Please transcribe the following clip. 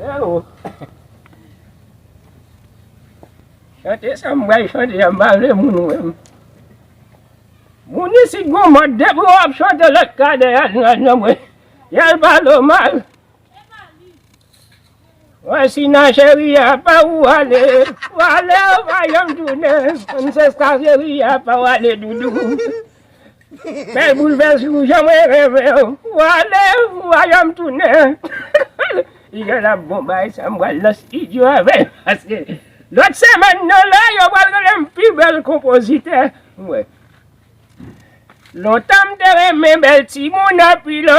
Freo Chante sa m bay chante a m pa vle moun wè m Moun isit gon mòd depi w ap chante lòt ka dèyè al nan nan mwen y al pale w mal Mwen si nan cheri a pa w ou ale Ou ale ou pa janm tounen M se sa cheri a pa w ale doudou Bèl boulvès ou jan mwen reve w Ou ale ou ajan m tounen Li lè la bon bay sa m pral nan stidyo avè l Paske lòt semèn nan la yo pral rele m pi bèl konpozitè Ou wè Lontan m te renmen bèl timoun anpil o